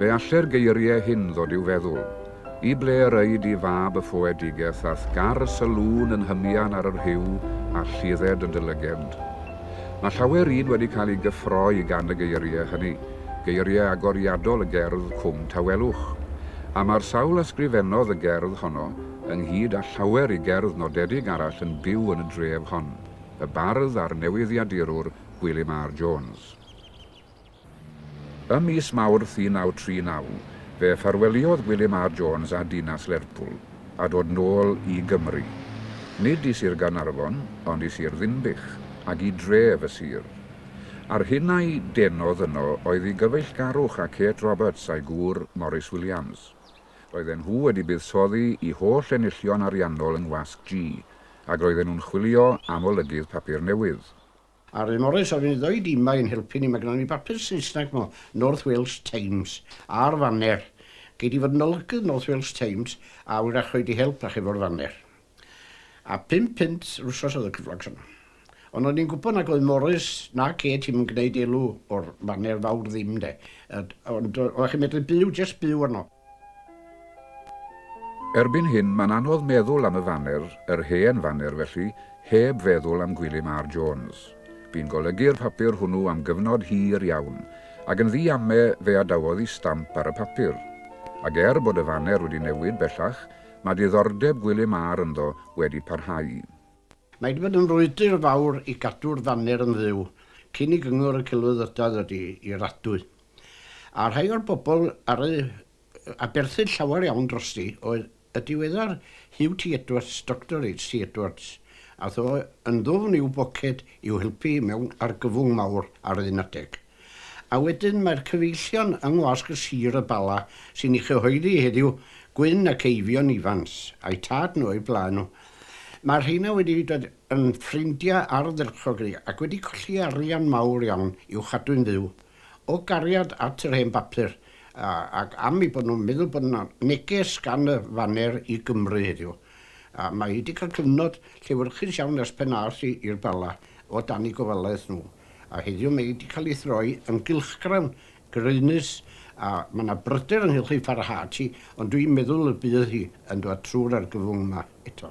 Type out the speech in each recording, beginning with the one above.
Fe alle'r geirie hyn ddod i'w feddwl, I ble yr ŷi di fab y ffoedigeth a'th gar y sylŵn yn hymian ar yr Huw a lludded yn dy lygefnd? Mae llawer un wedi cael ei gyffroi gan y geirie hynny, geirie agoriadol y gerdd Cwm Tawelwch. A mae'r sawl a sgrifennodd y gerdd honno, ynghyd â llawer i gerdd nodedig arall yn byw yn y dref hon, y bardd a'r newyddiadurwr Gwilym R. Jones. Ym mis Mawrth 1939, fe ffarweliodd William R. Jones â dinas Lerpwl, a dod nôl i Gymru. Nid i Sir Gaernarfon, ond i Sir Ddinbych, ac i dref y sir. A'r hyn a'i denodd yno oedd i gyfeillgarwch â Kate Roberts a'i gŵr, Morris Williams. Roedden nhw wedi buddsoddi i holl enillion ariannol yng Ngwasg G, ac roedden nhw'n chwilio am olygydd papur newydd. A'r un orau safon i ddoed ima i'n helpu ni mae gynnon ni bapur Saesneg mo North Wales Times a'r faner. Gei di fod yn olygydd North Wales Times a wyrach rhoi dy help ach efo'r faner. A pump punt yr wsos oedd y cyflog son. Ond o'n i'n gwybod nag oedd Morris na Kate i'm yn gneud elw o'r faner fawr ddim de. Ond oeddech chi'n medru byw jest byw arno. Erbyn hyn, mae'n anodd meddwl am y faner, yr hen faner felly, heb feddwl am Gwilym R. Jones. Bu'n golygu'r papur hwnnw am gyfnod hir iawn, ac yn ddu ame fe adawodd i stamp ar y papur. Ac er bod y faner wedi newid bellach, mae diddordeb Gwilym R. ynddo wedi parhau. Mae wedi bod yn frwydr fawr i gadw'r faner yn fyw, cyn i Gyngor y Celfyddydau ddod i raddu. A rhai o'r bobl ar y... a berthyn llawer iawn drosti oedd y diweddar Huw T Edwards, Doctor HT Edwards. Ath o yn ddwfn i'w boced i'w helpu mewn argyfwng mawr ar un adeg. A wedyn mae'r cyfeillion yng ngwasg y sir y Bala sy'n ei chyhoeddi heddiw, Gwyn ac Eifion Ifans, a'u tad nhw a'u blaen nhw. Mae'r rheina wedi dod yn ffrindiau ardderchog i ni, ac wedi colli arian mawr iawn i'w chadw'n fyw. O gariad at yr hen bapur, ac am eu bod nhw'n meddwl bod 'na neges gan y faner i Gymru heddiw. Mae hi 'di cael cyfnod llewyrchus iawn ers pan aeth hi i'r Bala o dan eu gofalaeth nhw, a heddiw mae hi 'di cael ei throi yn gylchgrawn graenus, a mae 'na bryder ynghylch ei pharhad hi, ond dwi'n meddwl y bydd hi yn dod trwy'r argyfwng 'ma eto.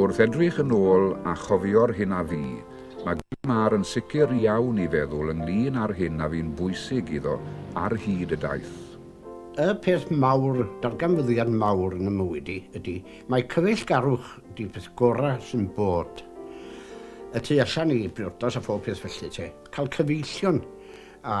Wrth edrych yn ôl a chofio'r hyn a fu, mae Gilmar yn sicr iawn i feddwl ynglŷn â'r hyn a fu'n bwysig iddo ar hyd y daith. Y peth mawr, darganfyddiad mawr yn 'y mywyd i ydy, mae cyfeillgarwch 'di'r peth gora' sy'n bod. Y tu allan i briodas a phob peth felly te, cael cyfeillion a